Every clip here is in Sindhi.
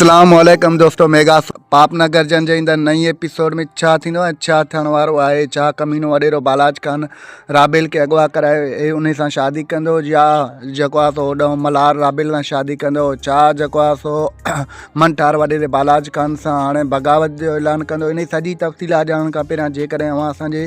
اسلام عليڪم دوستو ميگا پاپ نه گرجن جي ايندڙ نئين ايپيسوڊ ۾ ڇا ٿيندو ۽ ڇا ٿيڻ وارو آهي ڇا ڪمينو وڏيرو بالاچ خان رابيل کي اغوا ڪرائي ۽ ان سان شادي ڪندو يا جيڪو آهي سو هوڏانهن ملهار رابيل سان شادي ڪندو ڇا جيڪو آهي سو من ٺار وڏيري بالاچ خان سان هاڻي بغاوت جو اعلان ڪندو ان سڄي تفصيلات ڄاڻڻ کان پهريان جيڪڏهن اوهان اسان جي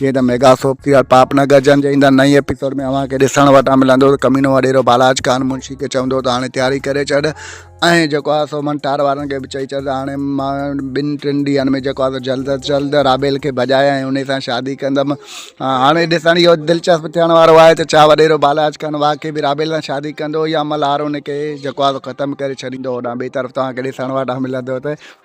جيئن ته ميگا سوپ ٿي ويو پاپ نه گرجن جي ايندڙ نئين ايپيسوڊ ۾ اوهان کي ڏسڻ وٽان ملندو ته ڪمينو وڏيرو بالاچ خان منشي کي چوندو ته هاڻي تياري ڪري ڇڏ ۽ جيڪو آهي سو منٽار وارن کي به چئي ڇڏ ته هاڻي مان ٻن ٽن ڏينهن ۾ جيڪو آهي سو جلد از جلد رابيل کي ڀڄائي ۽ ان سان شادي ڪندم هاڻي ڏسڻ اهو دلچسپ ٿيڻ وارو آهي ته ڇا وڏيرو بالاچ خان واقعي به رابيل سان شادي ڪندو يا ملهار ان کي جيڪو آهي سو ختم ڪري ڇڏيندو هوڏانهن ٻئي طرف توهان کي ڏسڻ وٽان ملندو ته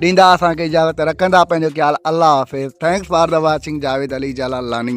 ڏيندا اسان کي اجازت رکندا پنهنجو خيال الله حافظ thanks for the watching Javed Ali Jalalani.